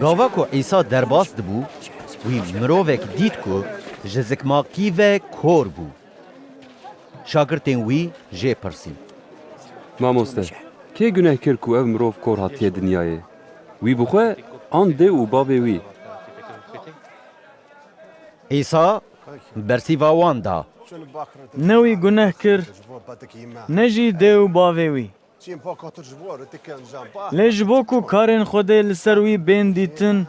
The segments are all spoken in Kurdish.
Gava ku Îsa derbas dibû, wî mirovek dît ku ji zikmakî ve kor bû. Şagirtên wî jê pirsîn. Mamoste, kê guneh kir ku ev mirov kor hatiye dinyayê? Wî bi xwe an dê û bavê wî? Îsa Bersîva wan da. Ne wî guneh kir, ne jî dê û bavê wî. Lê ji bo ku karên Xwedê li ser wî bên dîtin,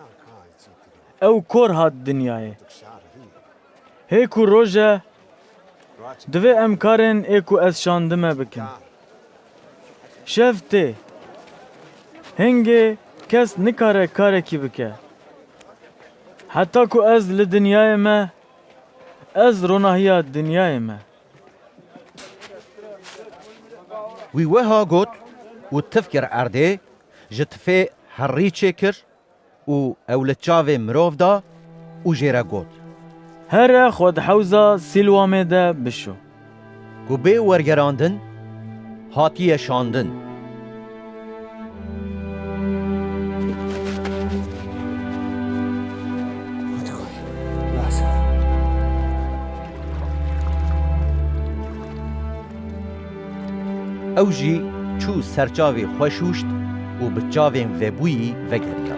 ew kor hat dinyayê. Hê ku roj e, divê em karên ê ku ez şandime bikin. Şev tê. Hingê kes nikare karekî bike. Heta ku ez li dinyayê me, ez ronahiya dinyayê me. Wî weha got û tif kir erdê, ji tifê herî çêkir. û ew li çavê mirov da û jê re got. Here xwe di hewza Sîlwamê de bişo. Ku bê wergerandin hatiye şandin. Ew jî çû ser çavê xwe şûşt û bi çavên vebûyî vegeriya.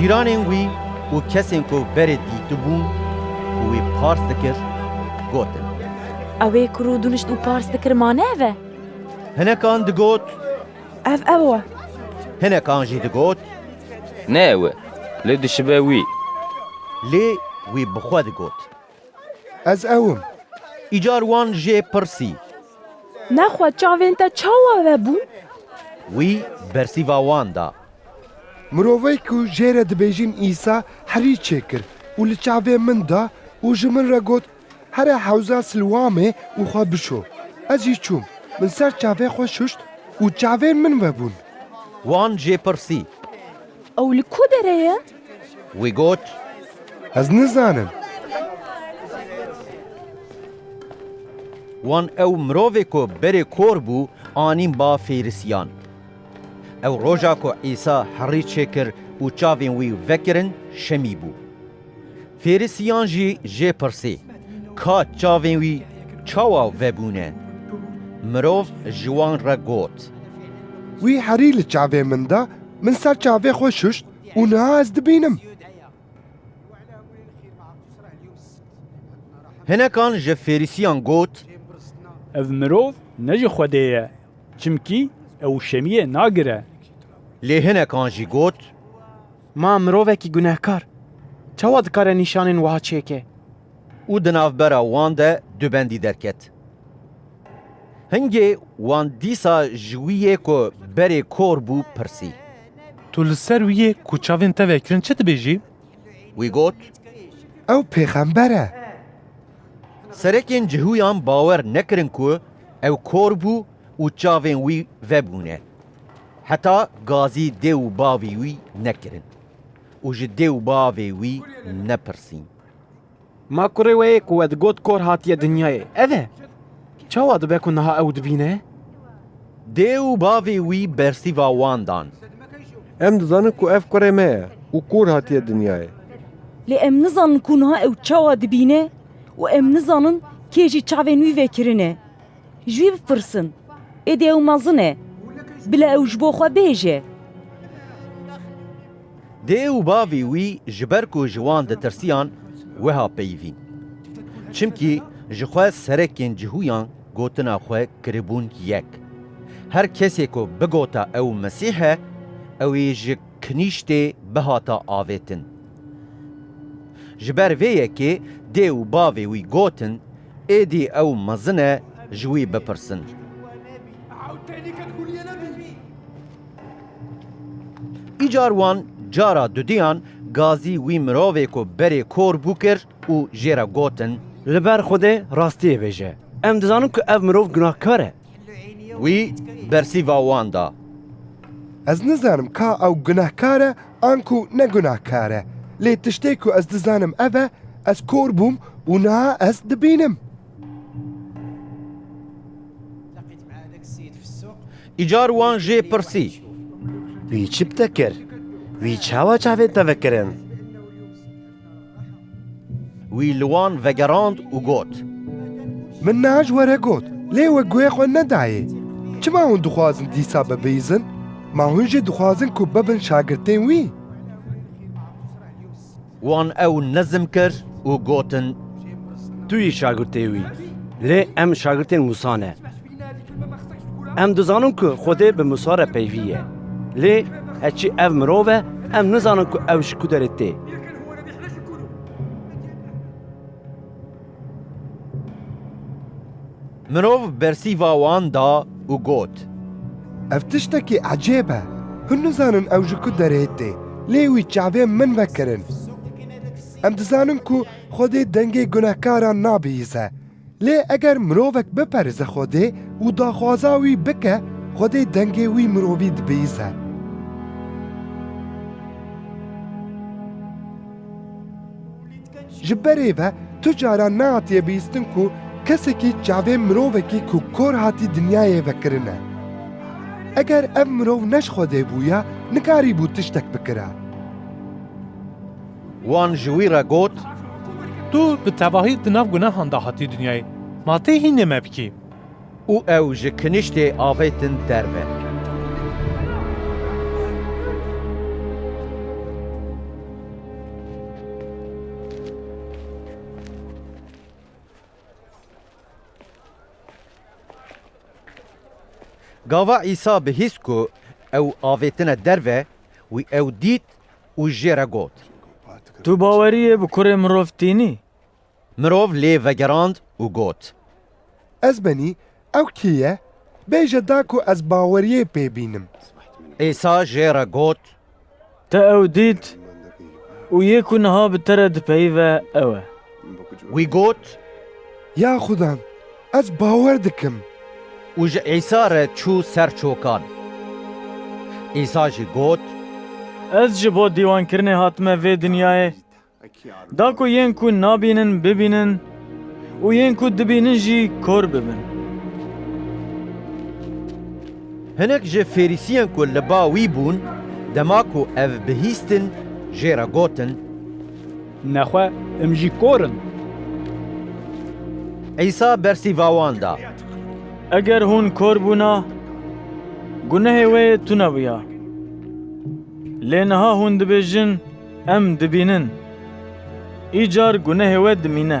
Cîranên wî û kesên ku berê dîtibûn û wî pars dikir gotin. Ew ê ku rû dunişt û pars dikir mane ev e? Hinekan digot. Ev ew e. Hinekan jî digot. Ne ew e, lê dişibe wî. Lê wî bi xwe digot. Ez ew im. Îcar wan jê pirsî. Nexwe çavên te çawa vebûn? Wî bersîva wan da. Mirovê ku jê re dibêjin Îsa herî çê kir û li çavên min da û ji min re got, Here hewza Silwamê û xwe bişo. Ez jî çûm, min ser çavê xwe şuşt û çavên min vebûn. Wan jê pirsî. Ew li ku derê ye? Wî got. Ez nizanim. Wan ew mirovê ku berê kor bû anîn ba Fêrisiyan. Ew roja ku Îsa herî çêkir û çavên wî vekirin şemî bû. Fêrisiyan jî jê pirsî, Ka çavên wî çawa vebûne? Mirov ji wan re got. Wî herî li çavê min da, min ser çavê xwe şuşt û niha ez dibînim. Hinekan ji Fêrisiyan got. Ev mirov ne ji Xwedê ye, çimkî ew şemiyê nagire. Lê hinekan jî got. Ma mirovekî gunehkar çawa dikare nîşanên wiha çêke? Û di navbera wan de du bendî derket. Hingê wan dîsa ji wî yê ku berê kor bû pirsî. Tu li ser wî yê ku çavên te vekirin çi dibêjî? Wî got. Ew pêxember e. Serekên cihûyan bawer nekirin ku ew kor bû û çavên wî vebûne. Heta gazî dê û bavî wî nekirin û ji dê û bavê wî nepirsîn. Ma kurê wê yê ku we digot kor hatiye dinyayê ev e, çawa dibe ku niha ew dibîne? Dê û bavê wî bersîva wan dan. Em dizanin ku ev kurê me ye û kor hatiye dinyayê. Lê em nizanin ku niha ew çawa dibîne û em nizanin kê jî çavên wî vekirine. Ji wî bipirsin, Êdî ew mezin e, bila ew ji bo xwe bêje. Dê û bavê wî ji ber ku ji wan ditirsiyan wiha peyivîn. Çimkî ji xwe serekên cihûyan gotina xwe kiribûn yek. Her kesê ku bigota ew Mesîh e, ew ê ji kinîştê bihata avêtin. Ji ber vê yekê dê û bavê wî gotin, Êdî ew mezin e ji wî bipirsin. Îcar wan cara dudiyan gazî wî mirovê ku berê kor bû kir û jê re gotin. Li ber Xwedê rastiyê bêje. Em dizanin ku ev mirov gunahkar e. Wî bersîva wan da. Ez nizanim ka ew gunehkar e an ku ne gunehkar e, lê tiştê ku ez dizanim ev e, ez kor bûm û niha ez dibînim. Îcar wan jê pirsî. Wî çi bi te kir? Wî çawa çavên te vekirin? Wî li wan vegerand û got. Min niha ji we re got, lê we guhê xwe nedayê. Çima hûn dixwazin dîsa bibihîzin? Ma hûn jî dixwazin ku bibin şagirtên wî? Wan ew nizm kir û gotin. Tu yî şagirtê wî, lê em şagirtên Mûsa ne. Em dizanin ku Xwedê bi Musa re peyvî ye. Lê heçî ev mirov e, em nizanin ku ew ji ku derê tê. Mirov bersîva wan da û got. Ev tiştekî ecêb e. Hûn nizanin ew ji ku derê tê, lê wî çavên min vekirin. Em dizanin ku Xwedê dengê gunehkaran nabihîze. Lê eger mirovek biperize Xwedê û daxwaza wî bike, Xwedê dengê wî mirovî dibihîze. Ji berê ve tu caran nehatiye bihîstin ku kesekî çavên mirovekî ku kor hatî dinyayê ve kirine. Eger ev mirov ne ji Xwedê bûya, nikarîbû tiştek bikira. Wan ji wî re got, Tu bi tevahî di nav gunehan de hatî dinyayê, ma tê hînê me bikî? Û ew ji kiniştê avêtin derve. Gava Îsa bihîst ku ew avêtine derve, wî ew dît û jê re got. Tu baweriyê bi kurê mirov tînî? Mirov lê vegerand û got. Ez benî, ew kî ye? Bêje da ku ez baweriyê pê bînim. Îsa jê re got. Te ew dît û yê ku niha bi te re dipeyive ew e. Wî got, Ya Xuda, ez bawer dikim. Û ji Îsa re çû ser çokan. Îsa jî got. Ez ji bo dîwankirinê hatime vê dinyayê, da ku yên ku nabînin bibînin û yên ku dibînin jî kor bibin. Hinek ji Ferîsiyên ku li ba wî bûn, dema ku ev bihîstin, jê re gotin. Nexwe em jî kor in. Îsa bersîva wan da. Eger hûn kor bûna, gunehê wê tune bûya. Lê niha hûn dibêjin, Em dibînin. Îcar gunehê we dimîne.